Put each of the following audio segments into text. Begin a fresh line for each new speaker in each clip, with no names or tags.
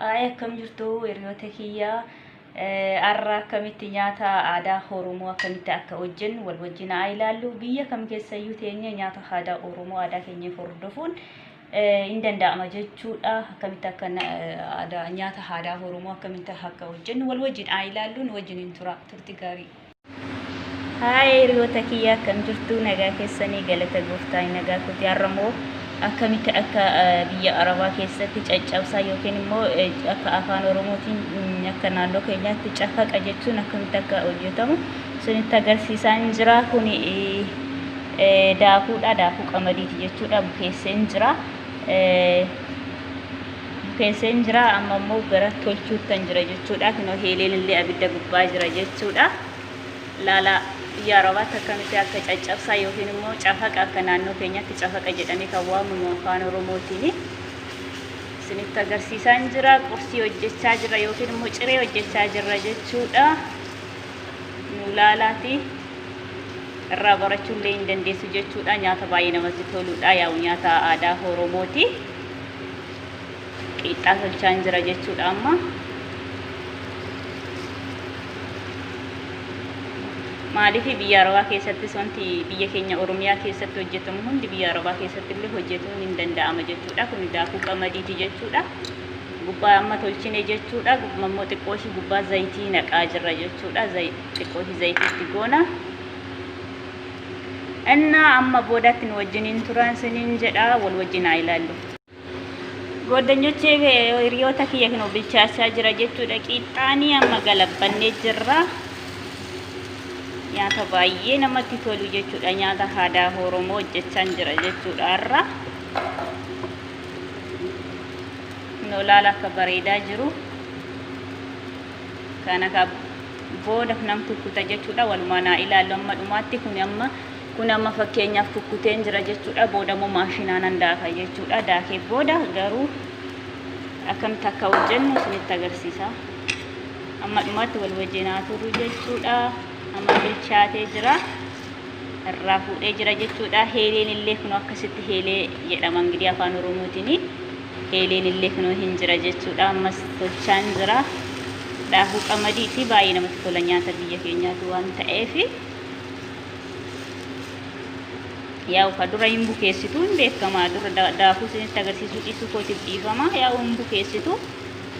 Ayi akkam jirtu hiriyoota kiyya har'a akkamitti nyaata aadaa Oromoo akkamitti akka hojjennu wal wajjin haa ilaallu. Biyya kam keessayyuu teenye nyaata aadaa Oromoo aadaa keenya hordofuun hin danda'ama jechuudha. Akkamitti akka nyaata aadaa Oromoo akkamitti akka hojjennu wal wajjin haa ilaallu nu wajjin hin tura turti gaarii. Haaya hiriyoota kiyya akkam jirtu nagaa keessanii galata gooftaa hin nagaa kooti har'a immoo akkamitti akka eh, biyya arabaa keessatti caccabsaa yookiin immoo eh, akka afaan oromootiin mm, akka naannoo keenyaatti cafaqa jechuun akkamitti akka hojjetamu sunitti agarsiisaa hin jira kuni eh, eh, daakuudha daakuu qamadiiti jechuudha bukeessee hin jira Eh, Bukeesseen jira amma immoo gara tolchuuttan jira jechuudha. Kunoo heeleen illee abidda gubbaa jira jechuudha. Laala yaa rabaatti akkamitti akka caccabsaa yookiin immoo cafaqa akka naannoo keenyatti cafaqa jedhamee kan waamamu afaan Oromootiin isinitti agarsiisaan jira. Qursii hojjechaa jira yookiin immoo ciree hojjechaa jirra jechuudha. Nu laalaati irraa barachuu illee hin dandeessu jechuudha. Nyaata baay'ee namatti toludha. Yaa'u nyaata aadaa Oromooti. qiixxaa tolchaan jira jechuudha amma maaliif biyya arabaa keessattis wanti biyya keenya oromiyaa keessatti hojjetamu hundi biyya arabaa keessatti illee hojjetuun hin danda'ama jechuudha kun daakuu qamadiiti jechuudha gubbaa amma tolchine jechuudha gubbaa immoo xiqqoo ishii gubbaa zayitii naqaa jirra jechuudha xiqqoo ishii zayitiitti goona Innaa amma boodatti nu wajjin hin turan sinin jedha wal wajjin haa ilaallu. Gooddanyochee hiriyoota kiyya kinoo bilchaachaa jira jechuudha qiixxaanii amma galabbannee jirra. Nyaata baay'ee namatti tolu jechuudha nyaata aadaa Oromoo hojjechaan jira jechuudha har'a. Kinoo laala akka bareedaa jiru. Kana booda nan kukkuta jechuudha walumaan haa ilaallu amma dhumaatti kun amma kun amma fakkeenyaaf kukkuteen jira jechuudha booda immoo maashinaa nan daaka jechuudha daakee booda garuu akkamitti akka hojjennu isinitti agarsiisa amma dhumaatti wal wajjin haa turu jechuudha amma bilchaatee jira irraa fuudhee jira jechuudha heeleen illee kun akkasitti heelee jedhama ingidiyaa afaan oromootiin Eeleen illee kunoo hin jira jechuudha. Ammas tolchaan jira. Daakuu qamadii fi baay'ee namatti tola nyaata biyya keenyaatu waan ta'eef. Yaa'u ka dura hin bukeessitu hin beekama. Dura daakuu isinitti agarsiisuu dhiisuu kootiif dhiifama. Yaa'u hin bukeessitu.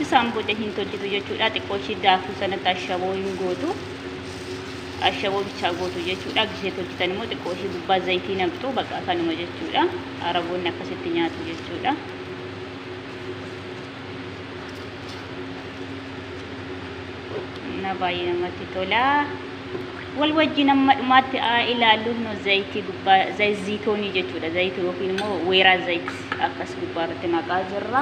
Isaan booda hin tolchitu jechuudha. Xiqqoo ishii daakuu sanatti ashaboo hin gootu. Ashaboo bichaa gootu jechuudha. Gishee tolchitan immoo xiqqoo ishii gubbaa zayitii naqxu bakka kanuma jechuudha. Araboonni akkasitti nyaatu jechuudha. Na baay'ee namatti tola. Wal wajjin amma dhumaatti haa ilaallu nu zayitii gubbaa zayitoonii jechuudha. Zayitii yookiin immoo weeraa zayit akkas gubbaa irratti naqaa jirra.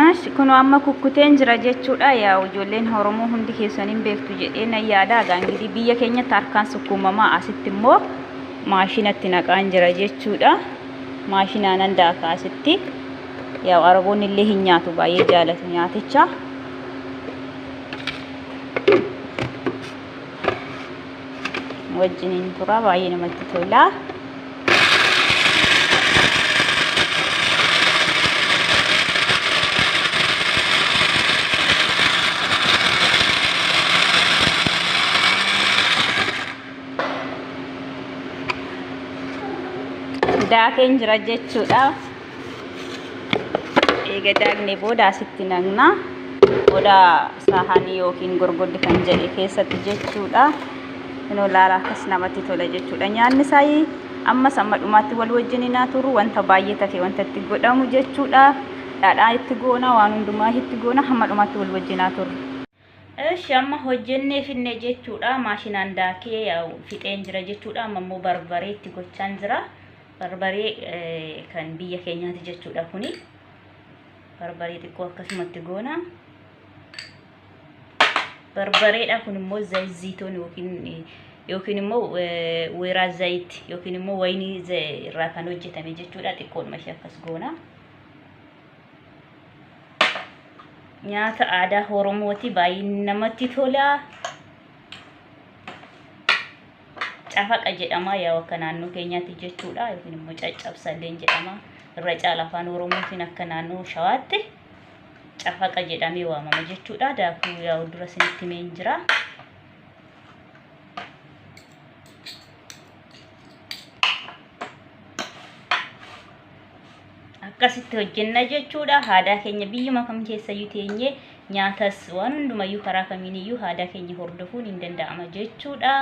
Ash kunoo amma kukkuteen jira jechuudha yaa ijoolleen Oromoo hundi keessan hin beektu jedhee nan yaada egaa ingitii biyya keenyatti harkaan sukkuumamaa asitti immoo maashinatti naqaan jira jechuudha maashinaanan daaka asitti yaa Araboonni illee hin nyaatu baay'ee jaalatu nyaaticha. wajjiniin tura baay'ee namatti tola. Daakeen jira jechuudha. eega daagne booda asitti naqna booda saahanii yookiin gorgoddi kan jedhe keessatti jechuudha inoo laala akkas namatti tola jechuudha nyaanni saayii ammas amma dhumaatti wal wajjin naa turu wanta baay'ee tafe wanta itti godhamu jechuudha dhaadhaa itti goona waan hundumaa itti goona hamma dhumaatti wal wajjin naa turu Eshi amma hojjennee finne jechuudha maashinaan daakee fixeen jira jechuudha amma immoo barbaree itti gochaan jira barbaree kan biyya keenyaati jechuudha kuni barbaree xiqqoo akkasumatti goona barbareedha kun immoo zayziitoon yookiin yookiin immoo weeraa zayit yookiin immoo wayinii irraa kan hojjetame jechuudha xiqqoon mashee akkas goona. nyaata aadaa Oromooti baay'ee namatti tola. Cafaqa jedhama yaa akka naannoo keenyaatti jechuudha yookiin immoo caccabsalleen jedhama. Irra caala afaan Oromootiin akka naannoo shawaatti cafaqa jedhamee waamama jechuudha. Daakuu yaa dura isinitti himeen jira. akkasitti hojjenna jechuudha haadaa keenya biyyuma kam keessayyuu teenye nyaatas waan hundumayyuu karaa kamiiniyyuu haadaa keenya hordofuun hin danda'ama jechuudha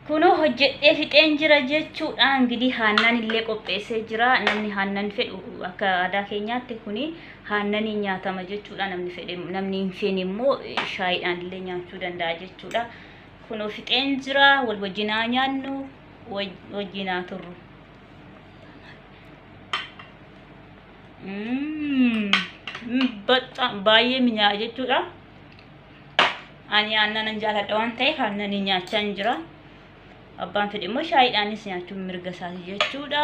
kunoo hojjedhee fixeen jira jechuudha ingidihi haannaan illee qopheessee jira namni haannan fedhu akka aadaa keenyaatti kuni haannanii nyaatama jechuudha namni fedhe namni hin feene immoo shaayiidhaan illee nyaachuu danda'a jechuudha Kunoo fixeen jira wal wajjin haa nyaannu waj- wajjin haa turru. Mm, mm, baxxa- baay'ee minyaa'a jechuudha. Ani aannan jaalladha waan ta'eef aannan nyaachaa hin jira. Abbaan fedhe immoo shaayiidhaanis nyaachuun mirga isaati jechuudha.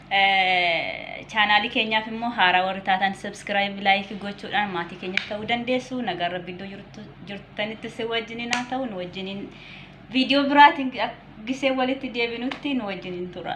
Chaanaalii keenyaaf immoo haaraa warri taatan subscribe like gochuudhaan maatii keenyas ta'uu dandeessu. Nagaan rabbi iddoo jirtu- jirtanitti si wajjiniin haa ta'u nu wajjiniin viidiyoo biraatiin gisee walitti deebinutti nu wajjiniin tura.